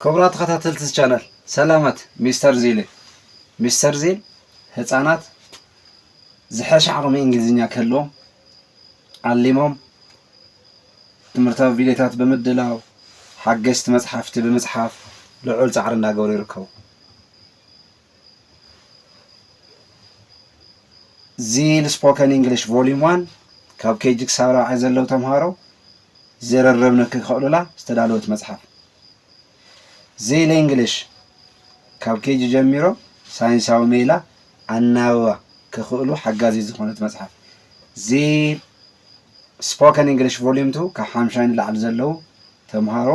ክቡራት ተኸታተልቲ እዚ ቻነል ሰላማት ሚስተር ዚል ሚስተር ዚል ህፃናት ዝሐሸ ዓቕሚ እንግሊዝኛ ክህልዎም ዓሊሞም ትምህርታዊ ቪድዮታት ብምድላው ሓገዝቲ መፅሓፍቲ ብምፅሓፍ ልዑል ፃዕሪ እንዳገበሩ ይርከቡ። ዚል ስፖከን እንግሊሽ ቮሊዩም ዋን ካብ ኬጂ ክሳብ ራብዓይ ዘለዉ ተምሃሮ ዝርርብ ንክኽእሉላ ዝተዳለወት መፅሓፍ ዚል እንግሊሽ ካብ ኬጂ ጀሚሮ ሳይንሳዊ ሜላ ኣናብባ ክኽእሉ ሓጋዚ ዝኾነት መፅሓፍ ዚል ስፖከን እንግሊሽ ቮሊዩም ቱ ካብ ሓምሻይ ንላዕሊ ዘለዉ ተምሃሮ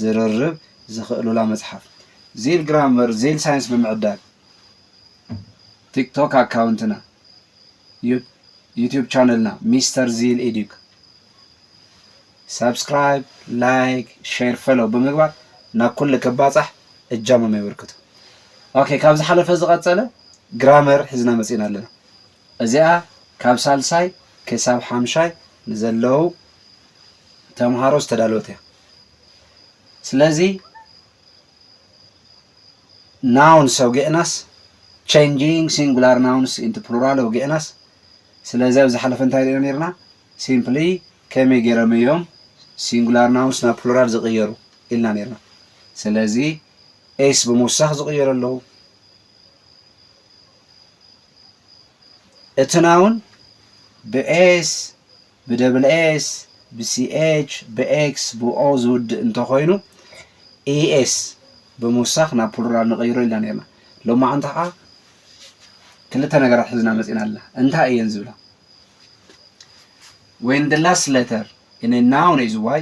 ዝርርብ ዝኽእሉላ መፅሓፍ ዚል ግራመር ዚል ሳይንስ ብምዕዳል ቲክቶክ ኣካውንትና ዩቱብ ቻነልና ሚስተር ዚል ኤዱክ ሳብስክራይብ ላይክ ሼር ፈሎው ብምግባር ናብ ኩሉ ክባፃሕ እጃሞም የበርክቱ ኦኬ ካብ ዝሓለፈ ዝቐፀለ ግራመር ሒዝና መፂና ኣለና እዚኣ ካብ ሳልሳይ ክሳብ ሓምሻይ ንዘለው ተምሃሮ ዝተዳለወት እያ ስለዚ ናውን ሰውጌእናስ፣ ቸንጂንግ ሲንጉላር ናውንስ ኢንቱ ፕሉራል ኣውጌእናስ፣ ስለዚ ኣብ ዝሓለፈ እንታይ ሪኢና ኔርና፣ ሲምፕሊ ከመይ ጌሮም እዮም ሲንጉላር ናውንስ ናብ ፕሉራል ዝቕየሩ ኢልና ኔርና። ስለዚ ኤስ ብምውሳኽ ዝቕየሩ ኣለዉ። እቲ ናውን ብኤስ ብደብል ኤስ፣ ብሲኤች፣ ብኤክስ፣ ብኦ ዝውድእ እንተኾይኑ ኢኤስ ብምውሳኽ ናብ ፕሉራል ንቐይሮ ኢልና ነይርና። ሎማዕንቲ ከዓ ክልተ ነገራት ሒዝና መፂእና ኣለና። እንታይ እየን ዝብላ? When the last letter in a noun is y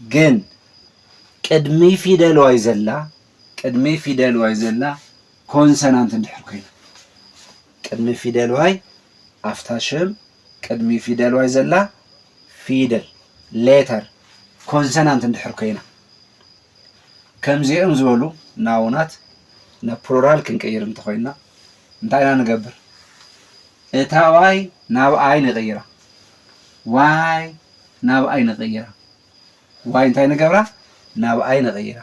ግን ቅድሚ ፊደል ዋይ ዘላ ቅድሚ ፊደል ዋይ ዘላ ኮንሰናንት እንድሕር ኮይና ቅድሚ ፊደል ዋይ ኣፍታ ሽም ቅድሚ ፊደል ዋይ ዘላ ፊደል ሌተር ኮንሰናንት እንድሕር ኮይና ከምዚኦም ዝበሉ ናውናት ናብ ፕሉራል ክንቅይር እንተኮይና እንታይ ኢና ንገብር? እታ ዋይ ናብ ኣይ ንቕይራ። ዋይ ናብኣይ ነቐይራ ዋይ እንታይ ንገብራ ናብኣይ ነቐይራ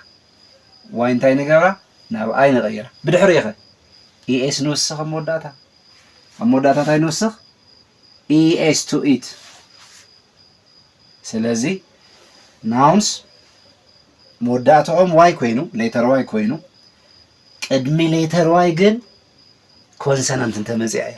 ዋይ እንታይ ንገብራ ናብኣይ ነቐይራ ብድሕሪ ኢኸ ኢኤስ ንውስኽ ኣብ መወዳእታ ኣብ መወዳእታ እንታይ ንውስኽ ኢኤስ ቱ ኢት ስለዚ ናውንስ መወዳእትኦም ዋይ ኮይኑ ሌተር ዋይ ኮይኑ ቅድሚ ሌተር ዋይ ግን ኮንሰናንት እንተመፅያ እያ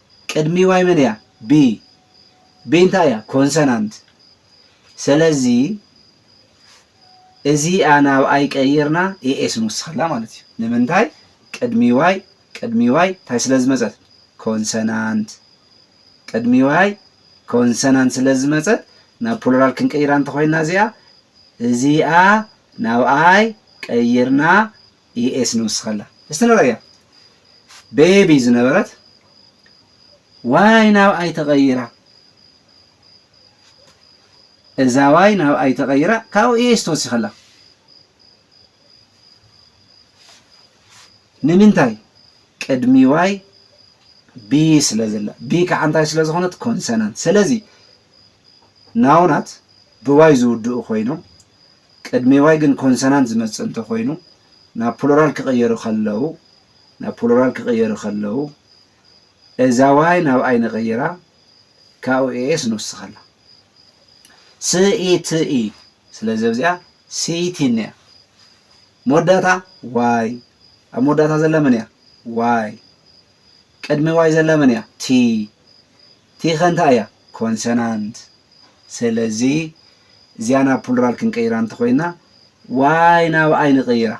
ቅድሚ ዋይ መን እያ ብ ብ እንታይ እያ ኮንሰናንት ሰለዚ እዚኣ ናብ ኣይ ቀይርና AS ንውስኸላ ማለት እዩ ንምንታይ ቅድሚ ዋይ ቅድሚ ዋይ እንታይ ስለ ዝመጸት ኮንሰናንት ቅድሚ ዋይ ኮንሰናንት ስለ ዝመጸት ናብ ፕሉራል ክንቀይራ እንተኾይና እዚኣ እዚኣ ናብ ኣይ ቀይርና ዩኤስ ንውስኸላ እስቲ ንርእያ ቤቢ ዝነበረት ዋይ ናብ ኣይ ተቐይራ እዛ ዋይ ናብ ኣይ ተቐይራ ካብኡ ዩኤስ ተወሲኸላ ንምንታይ ቅድሚ ዋይ ቢ ስለ ዘላ ቢ ከዓ እንታይ ስለ ዝኾነት ኮንሰናንት ስለዚ ናውናት ብዋይ ዝውድኡ ኮይኖም ቅድሚ ዋይ ግን ኮንሰናንት ዝመጽእ እንተ ኮይኑ ናብ ፕሉራል ክቕየሩ ከለዉ ናብ ፕሉራል ክቕየሩ ከለዉ እዛ ዋይ ናብ ኣይ ንቐይራ ካብኡ ኤኤስ ንውስኸላ ስ ኢ ት ኢ ስለዚ ኣብዚኣ ሲኢቲን እያ መወዳእታ ዋይ ኣብ መወዳእታ ዘላ መን እያ ዋይ ቅድሚ ዋይ ዘላ መን እያ ቲ ቲ ከ እንታይ እያ? ኮንሰናንት። ስለዚ እዚኣ ናብ ፑልራል ክንቅይራ እንተኾይንና ዋይ ናብ ኣይ ንቕይራ።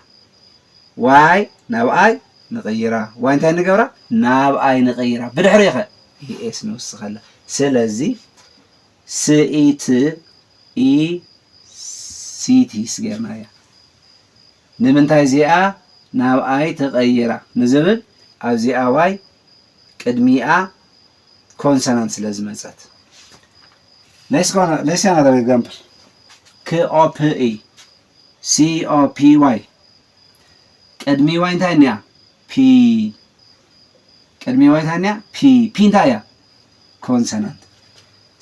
ዋይ ናብ ኣይ ንቕይራ። ዋይ እንታይ ንገብራ? ናብ ኣይ ንቕይራ። ብድሕሪኡ ከ ES ንውስኸላ። ስለዚ ስኢት፣ ኢ፣ ሲቲስ ገይርናያ። ንምንታይ እዚኣ ናብኣይ ተቐይራ ንዝብል ኣብዚኣ ዋይ ቅድሚኣ ኮንሰናንት ስለ ዝመጸት። ሌትስ ሲ ኣናዘር ኤግዛምፕል ክኦፕይ ሲኦፒዋይ ቅድሚ ዋይ እንታይ እኒኣ ፒ ቅድሚ ዋይ እንታይ እኒኣ ፒ ፒ እንታይ እያ ኮንሰናንት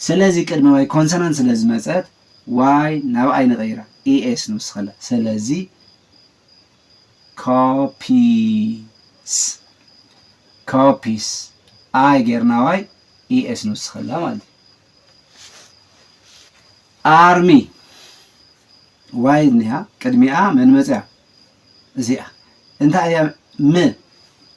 ስለዚ ቅድሚ ዋይ ኮንሰናንት ስለ ዝመጸት ዋይ ናብ ኣይ ንቀይራ ES ንውስኸላ ሰለዚ ኮፒስ Copies ኣይ ጌርና ዋይ ES ንውስኸላ ማለት እዩ ኣርሚ ዋይ እኒሃ ቅድሚኣ መን መፅያ እዚኣ እንታይ እያ ም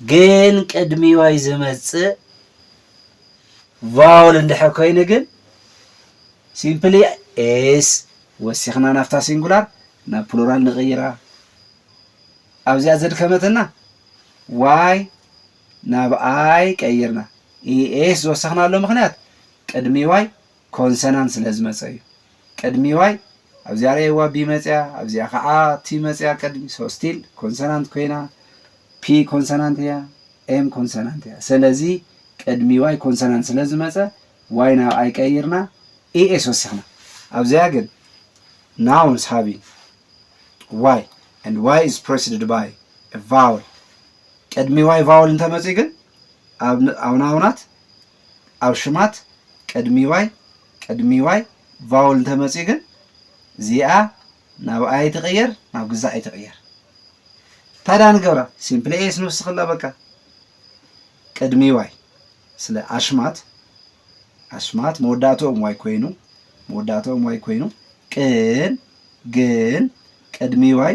ግን ቅድሚ ዋይ ዝመጽእ ቫውል እንድሕር ኮይኑ ግን ሲምፕሊ ኤስ ወሲኽና ናብታ ሲንጉላር ናብ ፕሉራል ንቕይራ ኣብዚኣ ዘድከመትና ዋይ ናብ ኣይ ቀይርና ኤስ ዝወሰኽናሉ ምክንያት ቅድሚ ዋይ ኮንሰናንት ስለ ዝመጸ እዩ ቅድሚ ዋይ ኣብዚኣ ርኣይዋ ቢ መጽያ ኣብዚኣ ከኣ ቲ መጽያ ቅድሚ so still ኮንሰናንት ኮይና P ኮንሰናንት እያ M ኮንሰናንት እያ ሰለዚ ቅድሚ ዋይ ኮንሰናንት ስለ ዝመጸ ዋይ ናብ ኣይ ቀይርና ES ወሲኽና ኣብዚኣ ግን nouns having ዋይ and ዋይ is preceded by a vowel ቅድሚ ዋይ ቫውል እንተመጽዩ ግን ኣብ ናውናት ኣብ ሽማት ቅድሚ ዋይ ቅድሚ ዋይ ቫውል እንተመጽዩ ግን እዚኣ ናብ ኣይ ትቕየር ናብ ግዛኣይ ትቕየር እንታይ ደኣ ንገብራ ሲምፕሊ ኤስ ንውስኽላ በቃ ቅድሚ ዋይ ስለ ኣሽማት ኣሽማት መወዳእትኦም ዋይ ኮይኑ መወዳእትኦም ዋይ ኮይኑ ቅን ግን ቅድሚ ዋይ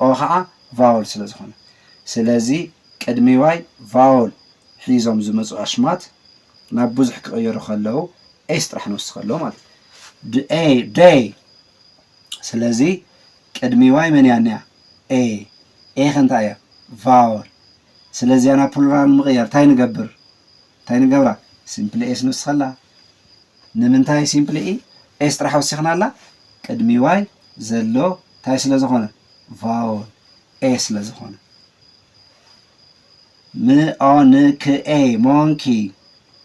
ኦ ኸዓ ቫወል ስለ ዝኾነ። ስለዚ ቅድሚ ዋይ ቫወል ሒዞም ዝመፁ ኣሽማት ናብ ብዙሕ ክቕየሩ ከለዉ ኤስ ጥራሕ ንውስኽ ኣሎ ማለት እዩ። ደይ ደይ ስለዚ ቅድሚ ዋይ መን እያ እኒኣ? ኤ። ኤ ከ እንታይ እያ? ቫወል። ስለ እዚኣ ናብ ፕሉራል ንምቕያር እንታይ ንገብር? እንታይ ንገብራ? ሲምፕሊ ኤስ ንውስኸላ። ንምንታይ ሲምፕሊ i s ጥራሕ ወሲኽናላ? ቅድሚ y ዘሎ ታይ ስለዝኾነ? ቫወል a ስለዝኾነ። ምኦንክኤ፣ ሞንኪ፣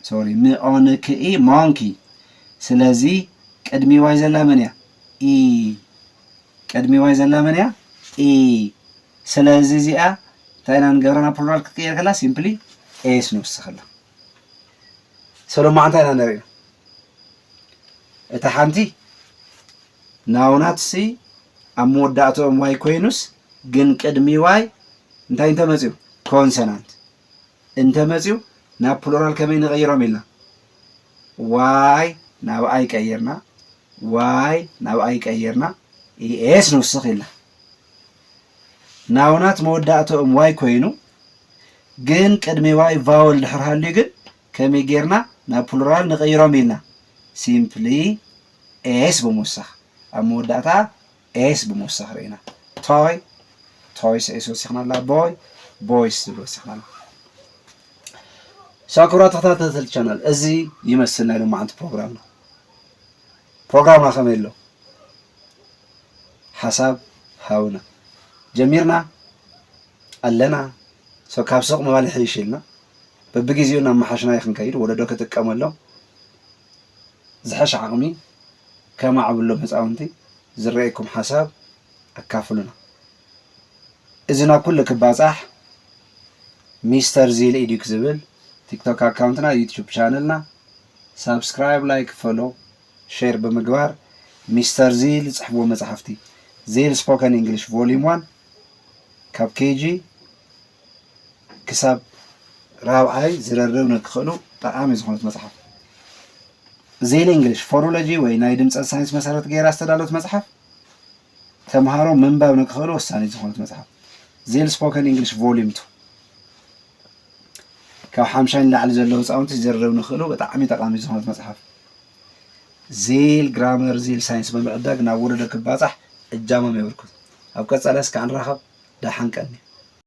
ሶሪ ምኦንክኢ፣ ሞንኪ። ስለዚ ቅድሚ y ዘላ መን እያ? ኢ ቅድሚ y ዘላ መን እያ? ኢ ስለዚ እዚኣ እንታይ ኢና ንገብረና ፕሉራል ክትቅየር ከላ ሲምፕሊ ኤስ ንውስኸላ። ሰሎማዕንታ ኢና ነርእዩ እታ ሓንቲ ናውናትሲ ኣብ መወዳእትኦም ዋይ ኮይኑስ ግን ቅድሚ ዋይ እንታይ እንተመፅዩ ኮንሰናንት እንተመፅዩ ናብ ፕሉራል ከመይ ንቐይሮም ኢልና ዋይ ናብ ኣይ ቀይርና ዋይ ናብ ኣይ ቀይርና ኢኤስ ንውስኽ ኢልና ናውናት መወዳእትኦም ዋይ ኮይኑ ግን ቅድሚ ዋይ ቫወል ድሕር ሃልዩ ግን ከመይ ጌርና ናብ ፕሉራል ንቐይሮም ኢልና ሲምፕሊ ኤስ ብምውሳኽ ኣብ መወዳእታ ኤስ ብምውሳኽ ርኢና ቶይ ቶይስ ኤስ ወሲኽና ኣላ ቦይ ቦይስ ዝብል ወሲኽና ኣላ ሶ ክብራት ተኸታተልቲ ቻናል እዚ ይመስል ናይ ሎማዓንቲ ፕሮግራምና ፕሮግራምና ከመይ ኣሎ ሓሳብ ሃውና ጀሚርና ኣለና so ካብ ሱቅ ምባል ይሕይሽ ኢልና በብጊዚኡ እናመሓሽናዮ ክንከይድ ወለዶ ክጥቀመሎም ዝሐሽ ዓቅሚ ከማዕብሎም ህፃውንቲ ዝረኤኩም ሓሳብ ኣካፍሉና እዚ ናብ ኩሉ ክባፃሕ ሚስተር ዚል ኤዱክ ዝብል ቲክቶክ ኣካውንትና ዩቱብ ቻነልና ሳብስክራይብ ላይክ ፈሎ ሼር ብምግባር ሚስተር ዚል ዝፅሕፍዎ መፃሕፍቲ ዚል ስፖከን ኢንግሊሽ ቮሊዩም ዋን ካብ ኬጂ ክሳብ ራብዓይ ዝርርብ ንክኽእሉ ጠቓሚ ዝኾነት መጽሓፍ ዜል እንግሊሽ ፎኖሎጂ ወይ ናይ ድምፀት ሳይንስ መሰረት ገይራ ዝተዳሎት መጽሓፍ ተምሃሮ ምንባብ ንክኽእሉ ወሳኒት ዝኾነት መጽሓፍ ዜል ስፖከን እንግሊሽ ቮሊዩም ቱ ካብ ሓምሻይ ንላዕሊ ዘለዉ ህፃውንቲ ዝርርብ ንክእሉ ብጣዕሚ ጠቃሚ ዝኾነት መጽሓፍ ዚል ግራመር ዚል ሳይንስ ብምዕዳግ ናብ ወለዶ ክባጻሕ እጃሞም የበርክቱ። ኣብ ቀጻሊ እስከ ኣንራኸብ ደሓን ቀኒ።